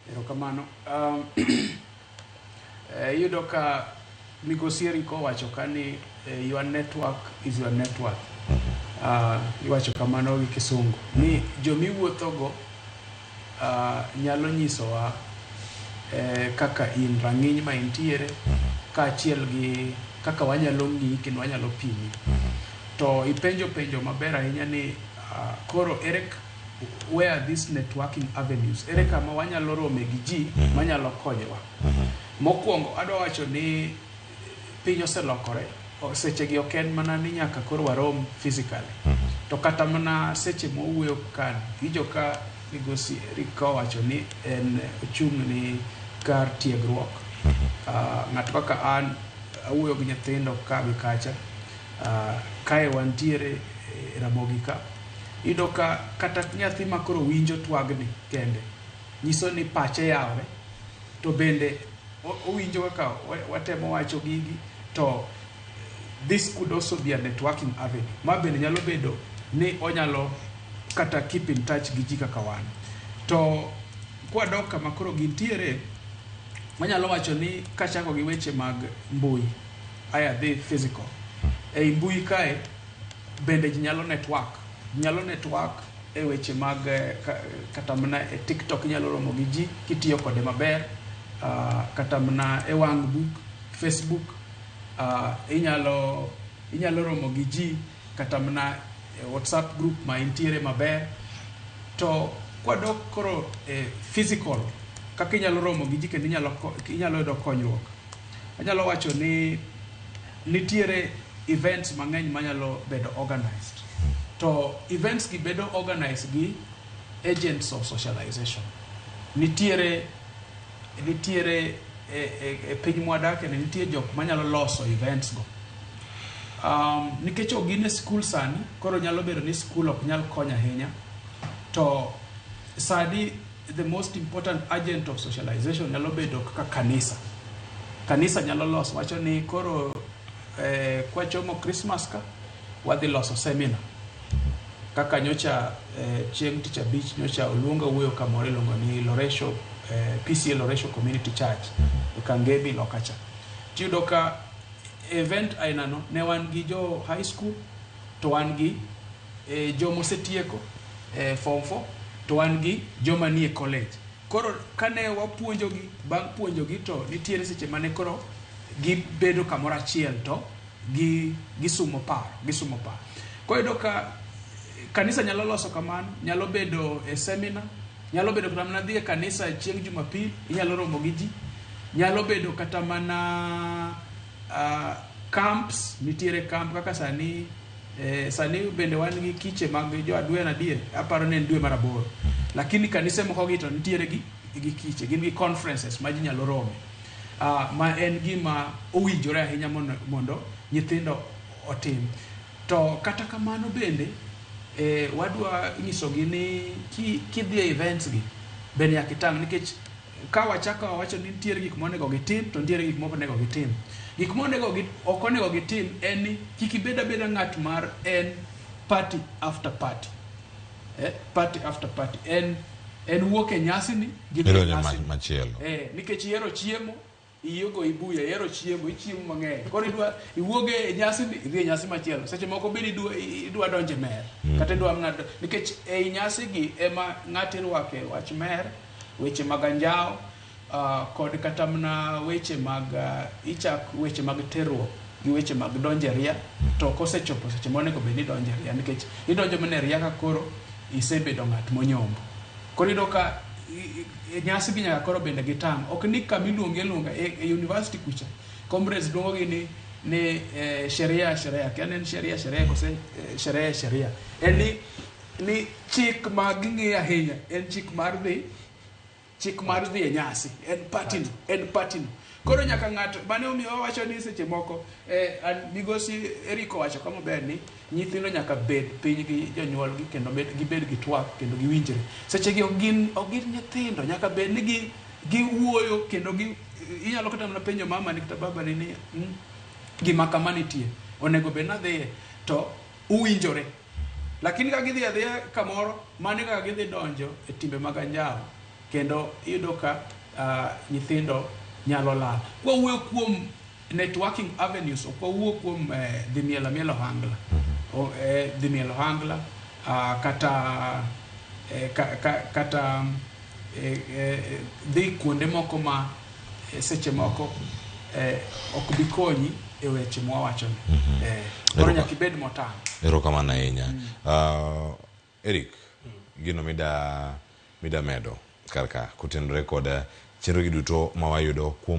Erokamano. Um, eh, iyudo ka migosi Eric owacho ka ni eh, your network is your network. Uh, iwacho kamano gi kisungu ni jomiwuothogo uh, nyalo nyisowa eh, kaka in rang'iny ma intiere kaachiel gi kaka wanyalo ng'iyi kendo wanyalo pimi to ipenjo penjo maber ahinya ni uh, koro Eric where are these networking avenues ere kama wanyalo rome gi ji mhm. manyalo konyowa mhm. mokwongo adwa wacho ni piny oselokore sechegi ok en mana ni nyaka koro warom physically mhm. to kata mana seche mowuoyo kan ijo ka migosi erik ka owacho ni en ochung' ni kar tiegruok ah, ng'ato kaka an awuoyo gi nyithindo ka gi kacha ah, kae wantiere e ramogi ka Iyudo ka kata nyathi ma koro winjo twagni kende nyiso ni pache yawore to bende owinjo kaka watemo wacho gigi to this could also be a networking avenue ma bende nyalo bedo ni onyalo kata keep in touch gi ji kaka wan to kwadok kama koro gintiere wanyalo wacho ni kachako gi weche mag mbui aya dhi physical ei mbui kae bende ji nyalo network nyalo network e weche mag eh, kata mana e tiktok inyalo romo gi ji kitiyo kode maber ah, kata mana e wang book facebook ah, inyalo inyalo romo gi ji kata mana e whatsapp group ma intiere maber to kwadok koro e physical kaka inyalo romo gi ji kendo inyalo yudo konyruok anyalo wacho ni Nitiere events mang'eny manyalo bedo organized to events gi bedo organized gi agents of socialization. Nitiere nitiere e, e, e piny mwadake ni nitie jok manyalo loso events go. Um, nikech ok gin e skul sani, koro nyalo bedo ni skul ok nyal konyo ahinya to sani the most important agent of socialization nyalo bedo kaka kanisa kanisa nyalo loso wacho ni koro eh, kwachomo christmas ka wadhi loso seminar kaka nyocha eh, chieng' tich abich nyocha oluonga wuoyo kamoro iluongo ni loresho eh, pca loresho community church e kangemi lokacha tiyudo ka event ainano ne wan gi jo high school to wan gi eh, joma osetieko eh, form 4 to wan gi joma nie college koro kane wapuonjogi bang' puonjogi to nitiere seche mane koro gibedo kamoro achiel to gi gisumo paro gisumo paro koro iyudo ka kanisa nyalo loso kamano nyalo bedo e seminar nyalo bedo kata mana dhi e kanisa chieng' jumapil inyalo romo gi ji nyalo bedo kata mana uh, camps nitiere camp kaka sani eh, sani bende wan gi kiche mag jo adwen adier aparo ni en dwe mar aboro lakini kanise moko gi to nitiere gi, gi kiche gin gi conferences ma ji nyalo rome uh, ma en gima owinjore ahinya mondo, mondo nyithindo otim to kata kamano bende eh, wadwa nyisogi ni ki- kidhi e events gi bende nyaka itang' nikech ka wachako wawacho ni nitiere gik monego gitim to nitiere gik moko onego gitim. Gik monego ok onego gitim en ni kik ibed abeda ng'at mar en party after party. Eh, party after party en en wuok e nyasi ni gi nyasi machielo. Eh, nikech ihero chiemo iyi ogo ibuya ihero chiemo ichiemo mang'eny koro idwa iwuog e nyasi ni idhi e nyasi machielo seche moko bende idwa idwa donjo e mer kata idwa mana do- nikech ei nyasigi ema ng'ato irwake wach mer weche mag anjawo ah, kod kata mana weche mag ah, ichak weche mag terruok gi weche mag donjo e ria to kosechopo seche monego bed ni idonjo e ria nikech idonjo mana e ria ka koro isebedo ng'at monyombo. Koro iyudo ka nyasi gi nyaka koro bende gitang'. Ok ni kama iluongi aluonga e, e university kucha comrades luongogi ni ni eh, sheria sheria kia en sheria sheria kose eh, sheria sheria en ni ni chik ma ging'eyo ahinya en chik mar dhi chik mar dhi e nyasi en patino en patino koro nyaka ng'ato mane omiyo wawacho ni seche moko eh, an- migosi eriko wacho ka maber ni nyithindo nyaka bed piny gi jonyuolgi kendo med- gibed gi twak kendo giwinjre sechegi ok gin ok gin nyithindo nyaka bed ni gi- giwuoyo kendo gi inyalo kata mana penjo mama ni kata baba ni ni "Mm, gima kama nitie onego bed nadhiye to uwinjore Lakini ka gidhi adhiya kamoro, mano e kaka gidhi donjo e timbe mag anjawo kendo iyudo ka ah, nyithindo nyalo lal. Kwawuoyo kuom networking avenues, ok wawuo kuom eh, dhi mielo amiela ohangla. O- eh, Dhi mielo ohangla ah, kata eh, ka- ka- kata eh, eh, dhi kuonde moko ma eh, seche moko eh, ok bi konyi e weche mwawachoni mm-hmm. eh, koro nyaka ibed motang' erokamano ahinya mm. uh, eric mm. gino mida mida medo kar ka kotenore kod chenrogi duto ma wayudo kuom